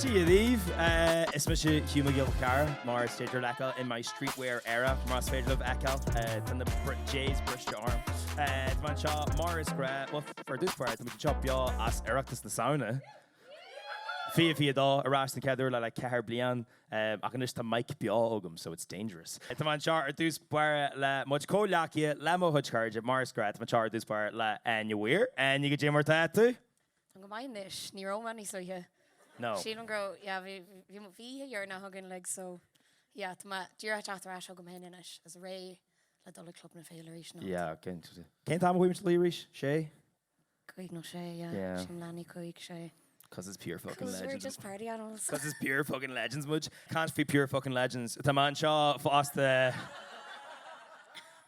Dia dhaoibh, is mise Hugh Mac Giolla-Chearra, mar is féidir libh a fheiceáil in my streetwear era, más féidir libh a fheiceáil, tá na Jays briste orm. Tá mé anseo mar is gnách, bhuel, ar dtús báire, tá muid anseo beo as Oireachtas na Samhna. Fiche 22, ar ais don chéad uair le like ceithre bliain, ach anois tá mic beo agam so it's dangerous. Tá mé anseo ar dtús báire le mo chuid comhghleacaithe, le mo chuid cairde, mar is gnách, tá mé anseo ar dtús báire le Áine Mhaoir. Áine, go dé mar atá tú? Tá go maith anois. Ní raibh mé níos luaithe. No. Sílim go raibh, yeah, bhí, bhí, bhí oíche dheireanach againn, like, so, yeah, tá mé díreach ag teacht ar ais chugam féin anois, is réidh le dul ag Club na Féile arís anocht. Yeah, okay. Cén t-am a chuaigh muid a luí aréir? Sé? Cúig nó sé, yeah. Yeah. Sin leanaí cúig, sé. Cos is pure fucking legends muid. Cos we're just party animals. Cos is pure fucking legends muid. Can't be pure fucking legends. Tá mé anseo fosta.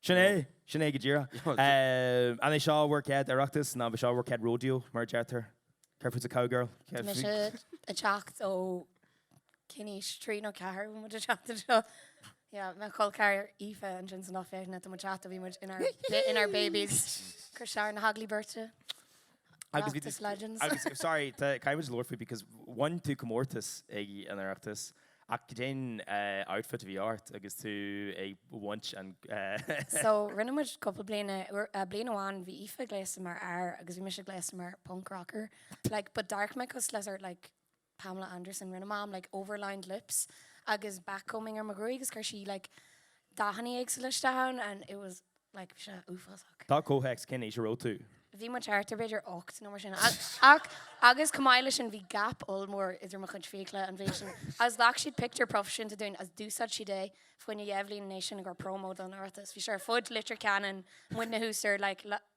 Sin é, sin é go díreach. An é seo bhur gcéad Oireachtas, ní hé seo bhur gcéad Rodeo mar a deirtear? Careful, it's a cowgirl. Tá mise ag teacht ó cén aois, trí nó ceathair a bhí muid ag teacht anseo? Yeah, mo chol ceathar Aoife ansin san Ollphéiseanna tá muid ag teacht ó bhí muid in our in our babies. Cur ar na hagallaimh Beirte. Oireachtas Legends. Agus sorry caithfidh muid labhairt faoi because bhain tú comórtas ag an Oireachtas ach cén outfit a bhí ort agus tú ag baint an So rinne muid cúpla bliain a bliain amháin bhí Aoife gléasta mar fhear agus bhí mise gléasta mar punk rocker like but d'amharc mé cosúil le sórt like Pamela Anderson, Rinne Mam like overlined lips agus backcombing ar mo ghruaig agus chuir sí like dathanna éagsúla isteach ann and it was like bhí sé uafásach. Tabhair comhthéacs cén aois a raibh tú? Bhí muid thart ar b'fhéidir ocht nó mar sin ach agus chomh maith le sin bhí gap ollmhór idir mo chuid fiacla an méid sin agus ghlac siad pictiúr proifisiúnta dínn agus d'úsáid siad é faoi cheann dhá bhliain ina dhiaidh sin i gcomhair promo don Oireachtas. Bhí sé ar fud Leitir Ceanainn, muidne thuas ar like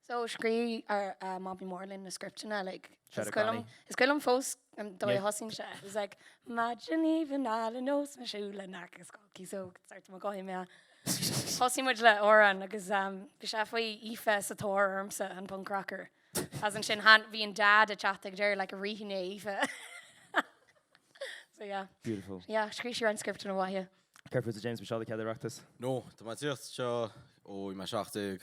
So, scríobh Mamaí Mór dúinn na scripteanna, like, is cuimhin liom, is cuimhin liom fós an dóigh a thosaíonn sé, it's like, Maidin aoibhinn álainn agus mé ag siúl in aice Scoil Cíosóg, ceartaigh mo ghuí mé. Thosaigh muid le amhrán agus bhí sé faoi Aoife sa tóir ormsa, an punk rocker. Agus ansin bhí an Dad ag teacht ag deireadh, like, a Ruifínigh a Aoife. So, yeah. Beautiful. Yeah, scríobh sí roinnt scripteanna maithe. Céard fútsa James, ab é seo do chéad Oireachtas? No, tá mé ag tíocht anseo ó bhí mé seacht déag.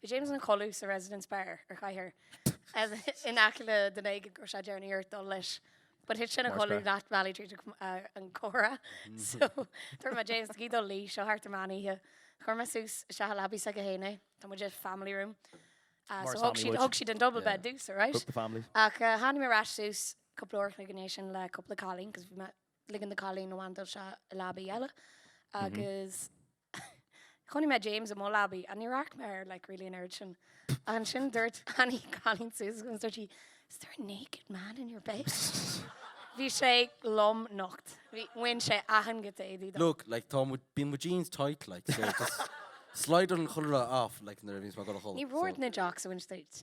Bhí James ina chodladh sa Residence Bar ar Chathaoir in aice le duine éigin go raibh sé ag déanamh iarracht dul leis but thit sé ina chodladh leath bealaigh tríd an gcomhrá so dúirt mé James caithfidh tú dul a luí seo thart ar meán oíche. Chuir mé suas isteach sa leabaidh s'aige fhéin é. Tá muid i family room ah so thug siad thug siad an double bed dúinn so alright ach tháinig mé ar ais suas cúpla uair an chloig ina dhiaidh sin le cúpla cailín cos bhí mé ligeann na cailíní a mhantail seo i leabaidh eile agus chonaic mé James i mo leabaidh agus ní raibh a fhios agam air like really an oiread sin. Ansin dúirt Annie cailín Susan dúirt sí Is there a naked man in your bed? Bhí sé lomnocht. Bhí, bhain sé achan ghiota éadaí dó. Look, like tá mo, bíonn mo jeans tight like so just slide an chulaith off like nuair a bhíonns mé ag dul a chodladh so. Ní raibh ort in a jock so bhain siad duit.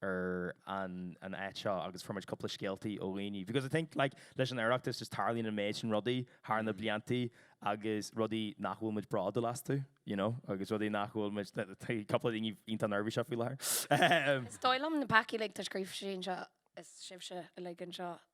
ar an an áit seo agus fuair muid cúpla scéaltaí ó dhaoine because I think like leis an Oireachtas just tarlaíonn an méid sin rudaí thar na bliantaí agus rudaí nach bhfuil muid bródúil astu you know agus rudaí nach bhfuil muid that- that- cúpla daoine iontach neirbhíseach faoi láthair. Is dóigh liom na peacaí uilig tá scríofa sín seo agus sibhse uilig anseo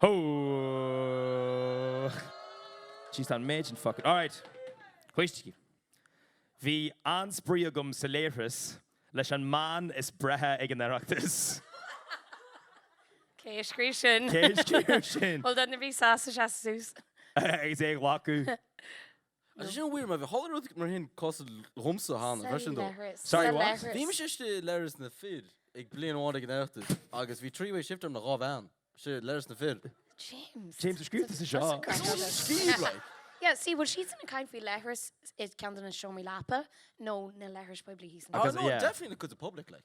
Ho! Jeez tá an méid sin fucking. Alright. Thuiscigí. Bhí an-spraoi agam sa léithreas leis an mbean is breithe ag an Oireachtas. Cé a scríobh sin? Cé a scríobh sin? Bhuel duine a bhí sásta seasamh suas. Agus é a ghlacadh. Agus sin an mhír, má bhí chuile rud mar sin cosa dhomsa cheana, bhris sin dó. Sa leithreas. Bhí mise istigh i leithreas na fir ag bliain amháin ag an Oireachtas agus bhí three way shift agam le dhá bhean istigh i leithreas na fir. James. James ar scríobh tusa seo. Is ionann an scríobh, like. Yeah, see, bhfuil siadsan ag caint faoi leithreas i gceann de na seomraí leapa nó na leithris poiblí thíos? Oh no, definitely in a cuid de public, like.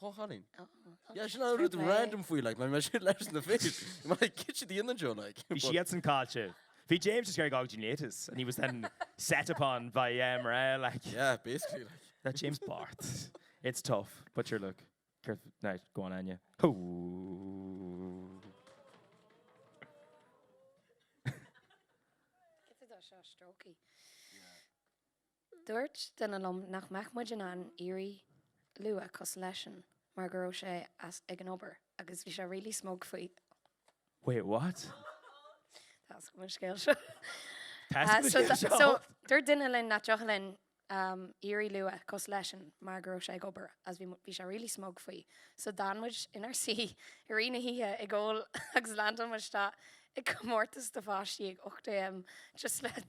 Go hálainn. Yeah, sin an rud random faoi, like, mar bhí mé istigh i leithreas na fir. Bhí mé like, cad tá sibh ag déanamh anseo, like? Bhí siadsan caillte. Bhí James is very genius and he was then set upon by mná, like. Yeah, basically, like. Ná James Bart. It's tough, but sure, look, céard, ná, go on, Áine. Hoo! Cad é do seo, strokey? Yeah. Dúirt duine liom nach mbeadh muid in ann éirí luath cosúil leis-sean mar go raibh sé as ag an obair agus bhí sé really smug faoi. Wait, what? Tá's agam an scéal seo. Tá's agam an scéal seo. So, dúirt duine linn nach dtiocfadh linn éirí luath cosúil leis-sean mar go raibh sé ag obair agus bhí sé really smug faoi. So, d'fhan muid inár suí i rith na hoíche ag ól agus leaindeáil muid isteach i gcomórtas do pháistí ag 8 am just le.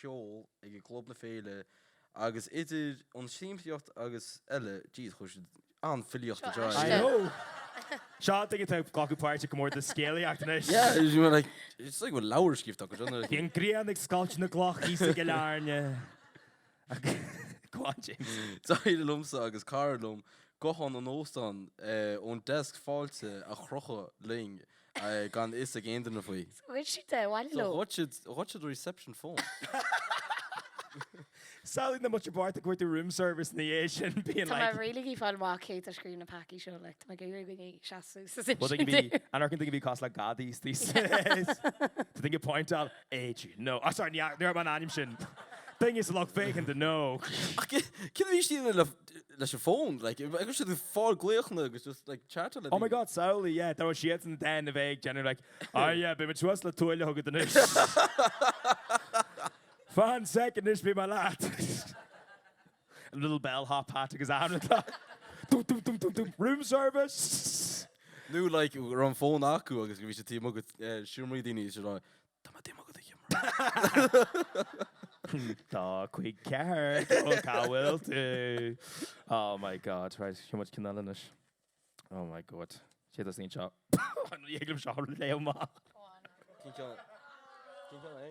cheol ag Club na Féile agus idir an siamsaíocht agus eile jeez chuir siad an-filíocht i Seo I know! istigh. Seo duine atá ag glacadh páirt i gcomórtas scéalaíocht anois. Yeah, you know like is like bhfuil leabhar scríobhta acu. Bhí an ghrian ag scoilteadh na gcloch thíos ag Cill Airne. Go on, James. D'éirigh liomsa agus cara liom guthán an óstáin ón deasc fáilte a chrochadh linn gan fhios ag aon duine faoi. Thug siad é abhaile leo. Ghoid siad an reception phone. Samhlaigh na mná bochta ag tabhairt an room service ina dhiaidh sin being like. Tá mé really ag fáil amach cé a scríobh na peacaí seo like tá mé ag iarraidh go seasfaidh siad. An fhaca tú go bhí cás le gadaí sa. To think a point out. H. No. Ah sorry, ní raibh an t-ainm sin duine sa loch féin de no. Ach cén fáth a bhí daoine le leis an bhfón? Like, a raibh siad ag fáil glaochanna agus just like chatáil le daoine. Oh my God, samhlaigh, yeah, dá raibh siadsan then a bheith ag déanamh like, ah yeah, beimid suas le tuaille chugat anois. Fan sec anois beidh mé leat. A little bell hop hat agus aithne atá Dum dum dum dum dum Room service! Nó like go raibh an fón acu agus go bhí sé taobh amuigh agat seomraí daoine is rá Tá mé taobh amuigh agat a sheomra. Tá, ceart go leor cá bhfuil tú? Oh my God right sheol muid ceann eile anois Oh my God Cé a dhéanann seo An rud thig liom seo a léamh maith. Cén ceann cén ceann é?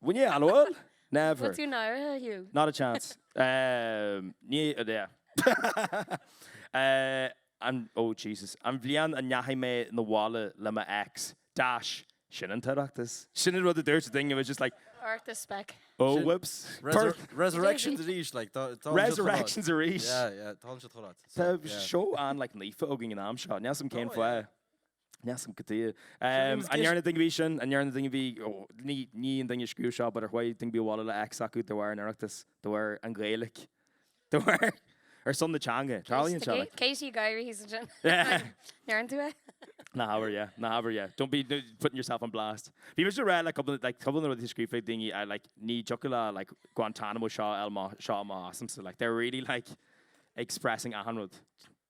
When you hello? Never. Tá tú náirithe, Hugh. Not a chance. Ní, yeah. Oh Jesus. An bhliain a ndeachaigh mé abhaile le mo ex, dash, sin an tOireachtas. Sin an rud a dúirt duine, it was just like. Oireachtas speic. Oh whoops. Birth. Resurrections arís, like. Tá an siad chomh maith. Resurrections arís. Yeah, yeah. Tá an siad chomh maith. Tá seó an-like naofa againn an am seo. Níl 's a'm cén fáth. Measaim go dtig. An ndearna duine ar bith sin? An ndearna an duine bhí? Ní an duine a scríobh seo but ar chuaigh duine ar bith abhaile le ex acu de bharr an Oireachtais, de bharr an Ghaeilig, de bharr ar son na teanga. Tarlaíonn seo like. Katie Gyrith is ansin. Ndearna tú é? Ná habair yeah, ná habair yeah. Don't be putting yourself on blast. Bhí mise ag rá le cúpla like cúpla de na rudaí a scríobh daoine I like ní dtiocfadh le like Guantanamo seo a fháil amach asamsa like they're really like expressing achan rud.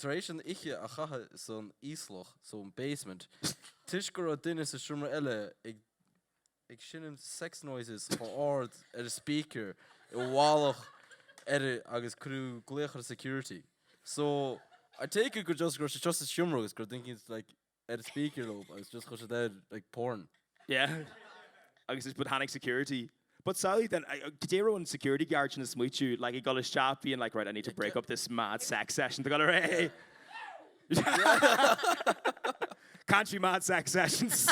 tar éis an oíche a chaitheamh san íoslach, so an basement, toisc go raibh duine sa seomra eile ag ag seinm sex noises chomh ard ar an speaker i bhfolach air agus cuireadh glaoch ar security. So, I take it gur just go raibh sé seo sa seomra agus gur thinking like, ar an speaker loud agus just chuir siad air like porn. Yeah agus is but tháinig security but samhlaigh then caidé a raibh an security guard sin ag smaoiteadh like ag dul isteach being like right I need to break up this mad sex session seo go léir country mad sex sessions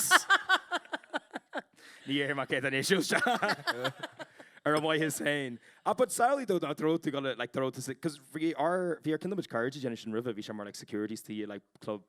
ní fheadar caidé an issue seo ar a mhaithe féin ach but samhlaigh dó ná dúirt tú go le like dúirt tú 'cause bhí ár bhí ár cineál muid cairde ag déanamh sin roimhe bhí sé mar like security is tuí i like club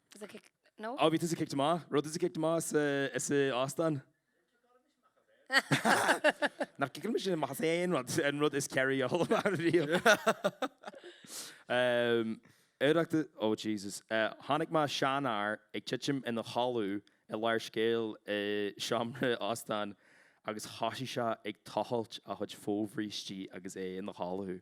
Tusa kicked, no? Á bhí tusa kicked amach. Raibh tusa kicked amach sa, sa óstán. Níor ciceáladh mise amach as aon rud, an rud is caitheadh amach riamh. Oireachtas, oh Jesus. Chonaic mé seanfhear ag titim ina chodladh i lár scéil i seomra óstáin agus thoisigh sé ag tochailt a chuid fobhrístí agus é ina chodladh.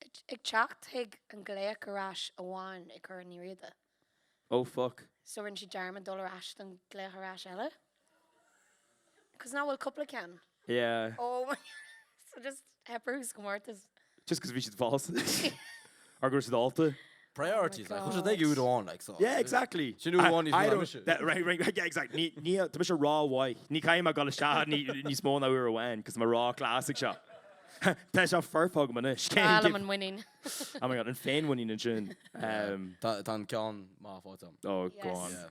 Ag teacht chuig an glaoch ar ais amháin ag Corn Uí Riada. Oh fuck. So rinne sí dearmad dul ar ais don glaoch ar ais eile? Cos nach bhfuil cupla ceann? Yeah. Oh my So just theip orthu sa gcomórtas. Just cos bhí siad falsa. Or go raibh siad ólta. Priorities like, chuaigh siad ag rud amháin like so. Yeah exactly. Sin rud amháin níos mó ná mise. Yeah exactly ní tá mise rómhaith. Ní chaithfidh mé dul isteach níos mó ná uair amháin cos mé ró-class ag seo. Tá seo foirfe agam anois. Bail am an mhuinín. Oh my God an féinmhuinín ansin. Tá an ceann maith faighte agam. Oh go on. Yeah.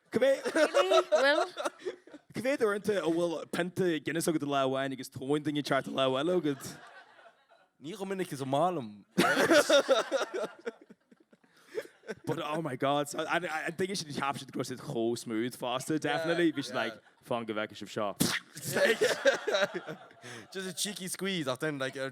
Cá mhéad uaireanta a bhfuil pionta Guinness agat i lámh amháin agus tóin duine inteacht sa lámh eile agat? Ní chomh minic is ba mhaith liom. But oh my God, so an duine sin a cheap siad go raibh siad chomh smooth fosta, definitely, bhí siad like, fan go bhfeice sibh seo. Just a cheeky squeeze ach then like ar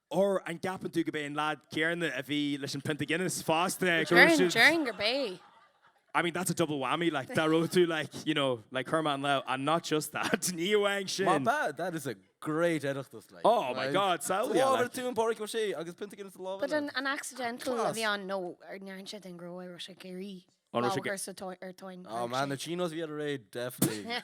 Or an gceapann tú gurbh é an leaid céarna a bhí leis an pionta Guinness fosta go raibh siad. Déarfainn gurbh é. I mean that's a double whammy like dá raibh tú like you know like chuir mé an lámh and not just that ní amháin sin. Má tá, that is a great Oireachtas like. Oh my God so yeah like. Samhlaigh tóin Pádraig Ó Sé agus pionta Guinness sa lámh eile. But an accidental a bhí ann nó an ndearna siad d'aon ghnó é raibh sé ag iarraidh lámh a chur ar tóin. Oh man the chinos bhí air aréir definitely.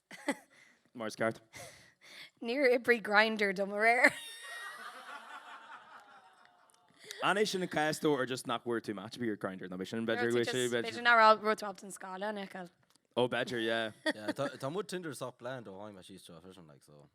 mar is ceart. Níor oibrigh Grindr domh aréir. An é sin an cás though or just nach bhfuair tú match ar bith ar Grindr nó sin b'fhéidir go raibh sé b'fhéidir nach raibh tú ar an scála an eáil. Ó b'fhéidir, Tá mo Tinder sách lán ó tháinig mé síos anseo like so.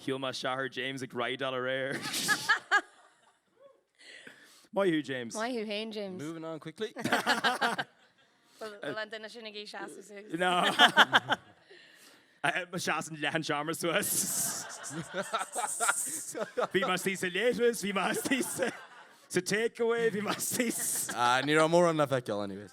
Shíl mé Shathair James ag raideáil aréir. Maith thú, James. Maith thú fhéin, James. Moving on quickly. Bhfuil an duine sin ag iarraidh seasamh suas? No. Seasann leath an tseomra suas. Bhí mé istigh sa leithreas, bhí mé istigh sa takeaway, bhí mé istigh sa. Ní raibh mórán le feiceáil anyways.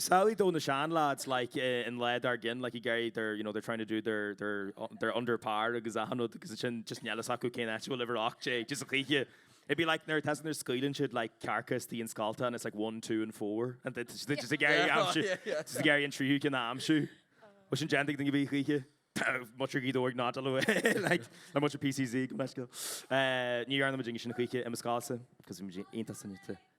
Is amhlaidh do na seanleaids like eh an lá dár gcionn like ag iarraidh they're you know they're trying to do their their their under par agus achan rud agus ansin just níl a fhios acu cén áit a bhfuil uimhir a hocht déag just a choíche it'd be like nuair atá nuair scaoileann siad like cearca istigh i scoilte and it's like one two and four and they just just ag iarraidh Yeah, aimsiú yeah, yeah. just ag iarraidh an tríú ceann aimsiú Bhí sin déanta agaibh a choíche muintir Ghaoth Dobhair nó like nó muintir PCC gabh mo leithscéal ní dhearna muidinne sin choíche i mo scoilse cos muid iontach soineanta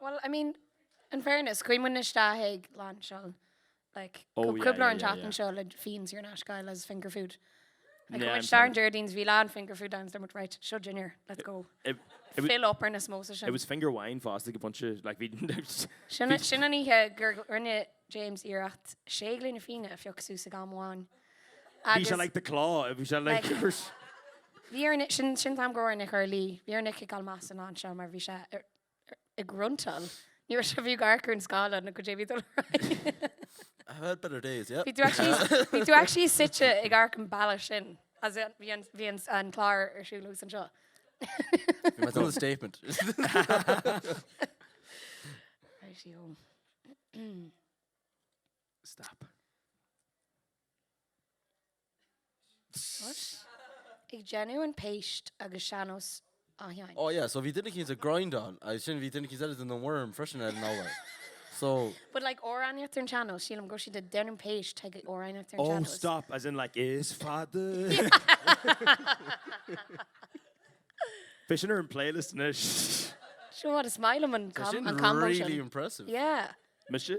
Bhuel, I mean, in fairness, chuaigh muidne isteach ag lainseáil like Oh, yeah, cúpla uair yeah, an yeah, tseachtain yeah. seo le fíon saor in aisce a fháil is finger food. Like, Yeah, yeah, I'm muid ar an sorry. Déardaoin is bhí lán finger food ann is muid right, seo dinnéar, let's go. It, it, was, Fill up ar na samosas it sin. was finger wine fast, like a bunch of, like, we, Sin sin an oíche gur rinne James iarracht sé ghloine fíona a phioc suas ag am amháin. Bhí sé like the claw, bhí sé like gur. Bhí ár nDia, sin an t-am go raibh ar Nic Orlaí, bhí ar Nic ag fháil masa an lá anseo mar bhí sé ag gruntáil. Ní raibh sé, bhí tú ag amharc ar an scáileán nó cad é a bhí ag dul ar aghaidh. I have had better days, yeah. Bhí tú actually, bhí tú actually suite ag amharc an bealach sin as in bhí an bhí an an clár ar siúl thuas anseo. That's a statement. Righty-o. stop. Ag déanamh an phéist agus sean-nós á sheinnt. Oh yeah, so bhí duine éicint ag grindáil agus ansin bhí duine éicint eile ag déanamh an worm freisin ar an urlár. So But like amhránaíocht ar an sean-nós, sílim go raibh siad ag déanamh péist ag amhránaíocht ar an sean-nós. Oh stop, as in like is fada. Bhí sin ar an playlist na Sure, what a smile am an combo sin. Really impressive. Yeah. Mise?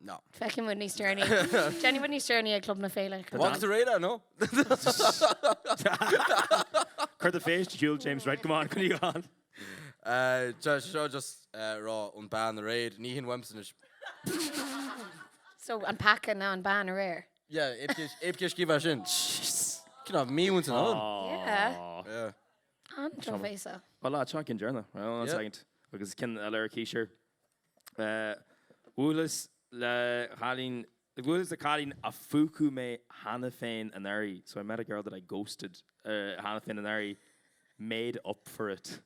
No. Feicfidh muid níos deireanaí. Déanfaidh muid níos deireanaí ag Club na Féile. Go Bhfágfas a réidh leat, no? Cuir do phéist a shiúl, James. Right, come on, coinnigh thú ann. Sea, seo just rá an bhean aréir. Ní haon mhaidhmeas anois. So, an peaca ná an bhean aréir? Yeah, cibé cé scríobh é sin. Jeez. Cinn fháth míúint in ann. Yeah. Yeah. An-tromhéasach. Bhá lá, seo cinn dearna. Hang on a second. Agus cinn a lorg aois air. Bhuaileas le cailín, bhuaileas le cailín a phúcáil mé cheana féin anuraidh, so I met a girl that I ghosted cheana féin anuraidh, made up for it.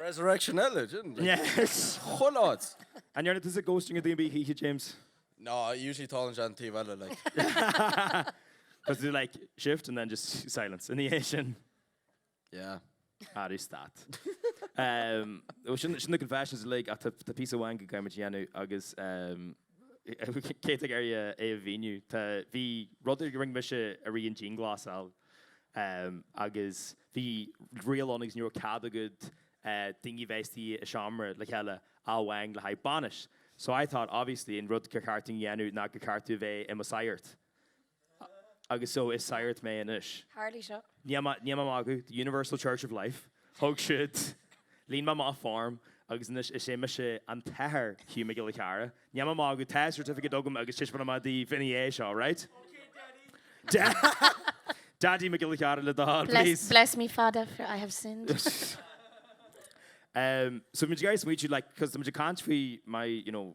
Resurrection eile ansin. Chuile áit. An ndearna tusa ghosting ar dhuine ar bith choíche, James? No, usually tarlaíonn sé ón taobh eile, like. Is it like shift and then just silence ina dhiaidh sin? Yeah. Ah stad. Sin na confessions uilig ach tá píosa amháin go gcaithfimid a dhéanamh agus cé atá ag iarraidh é a mhíniú. Bhí rud a rinne mise i rith an dianghlasáil agus bhí riail ann agus ní raibh cead ag daoine a bheith istigh i seomra le chéile ach amháin le haghaidh bainis. So I thought obviously an rud gur cheart dom a dhéanamh ná gur cheart dom a bheith i mo shagart agus so is sagart mé anois. Tharla seo. Níl mé magadh, the Universal Church of Life, thug siad, líon mé amach form agus anois is é mise an tAthair Hugh Mac Giolla Chearra. Níl mé magadh, tá certificate agam agus taispeánfaidh mé daoibh ina dhiaidh seo, right? Ok Daddy! Daddy Mac Giolla Chearra le do thoil, please. Bless me Father for I have sinned. So bhí muid ag iarraidh smaoitiú like cos tá muid ag caint faoi my, you know,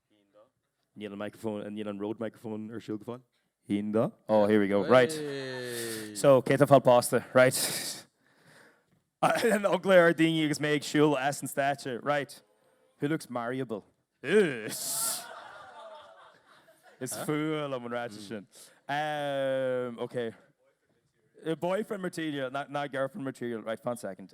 Níl an microphone, níl an Rode microphone ar siúl go fóill. Haon, dó? Oh, here we go. Right. So, cé tá ag fáil pósta? Right. An-eagla ar daoine agus mé ag siúl as an stáitse. Right. Who looks marryable? Is fuath liom an ráiteas sin. Ok. Boyfriend material, not girlfriend material. Right, fan second.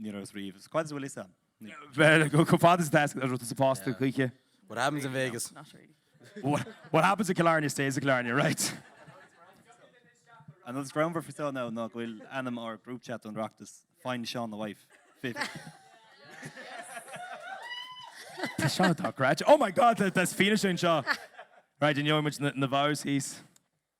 Ní raibh fhios riamh. Is cuid de bhfuil fhios a'm. Bhuel, go fada sa tasc a ruta sa phosta choíche. What happens in Vegas. What, what happens in Killarney stays in Killarney, right? An rud is greannmhar faoi seo ná go bhfuil ainm ár group chat don Oireachtas, Find Seán a Wife. Tá seo atá great. Oh my god, that's Fianna sin seo. Right, in muid na vows hís.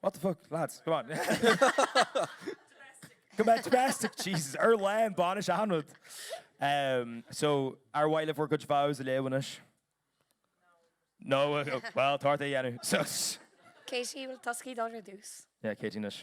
What the fuck, lads, come on. Go mbeidh domestic, Jesus, ar lá an bainis achan rud. Ehm, so, ar mhaith libh bhur gcuid vows a léamh anois? No, uh, well, tá ort é a dhéanamh. So, s- Katie, bhfuil tusa ag iarraidh dul ar dtús? yeah, Katie anois.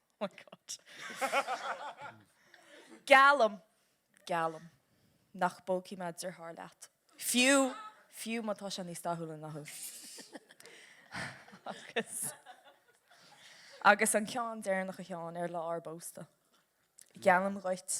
my God. Geallaim, geallaim nach bpógfaidh mé deartháir leat, fiú, fiú má tá sé níos dathúla ná thú. Agus, agus an ceann deireanach a Sheáin, ar lá ár bpósta, geallaim dhuit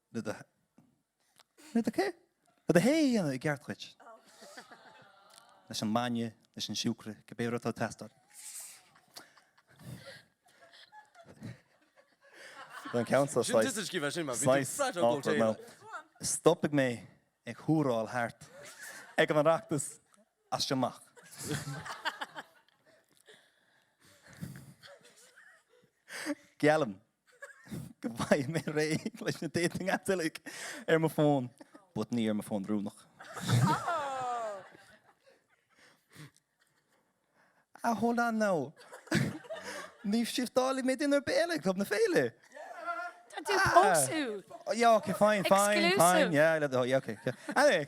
Le do cé? Le do thae a dhéanamh i gceart dhuit. Leis an mbainne, leis an siúcra, cibé rud atá ag teastáil. Don ceann seo, saghas. Sin just scríobh mé sin, mar bhí tú flat out ó taobh le. Stopfaidh mé ag húráil thart ag an Oireachtas as seo amach. Geallaim go bhfaighidh mé réidh leis na dating apps uilig ar mo fón, but ní ar mo fón rúnach. Ah hold on now. Ní shiftálfaidh mé duine ar bith eile ag Club na Féile. Tá tú ag pósadh. Yeah, okay, fine, fine, fine, Exclusive. yeah, I love the whole, yeah, okay, okay. Anyway,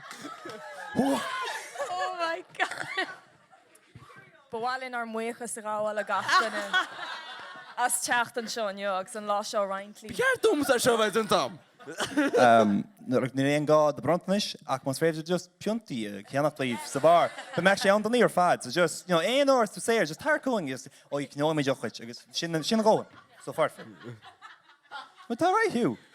Oh my God! Ba mhaith linn ár mbuíochas a ghabháil le gach duine as teacht anseo inniu agus an lá seo a roinnt linn. Ceart dom ar seo bheith den tam? Níl aon gá do bronntanais ach más féidir just piontaí a cheannach daoibh sa bheár. Bheadh sé an-donaí ar fad. So just, you know, aon uair tú saor, just tar chugainn just oh yeah ghnóimid ocht chuid agus sin an sin an ghó. So foirfe. But tá right Hugh.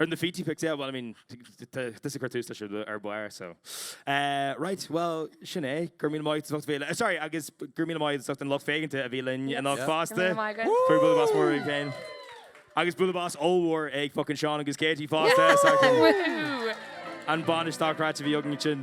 Ar na Fiji Pics, yeah, well, I mean, tusa a chuir tús leis ar dtús, so. Right, bhuel, sin é, go raibh míle maith agat as a bheith linn, sorry, agus go raibh míle maith ag an lucht féachanta a bhí linn anocht fosta. Tabhair bualadh bos mór daoibh féin. Agus Bualadh Bos ollmhór ag fucking Seán agus Katie fosta. An bainisteoir stáitse a bhí againn ansin.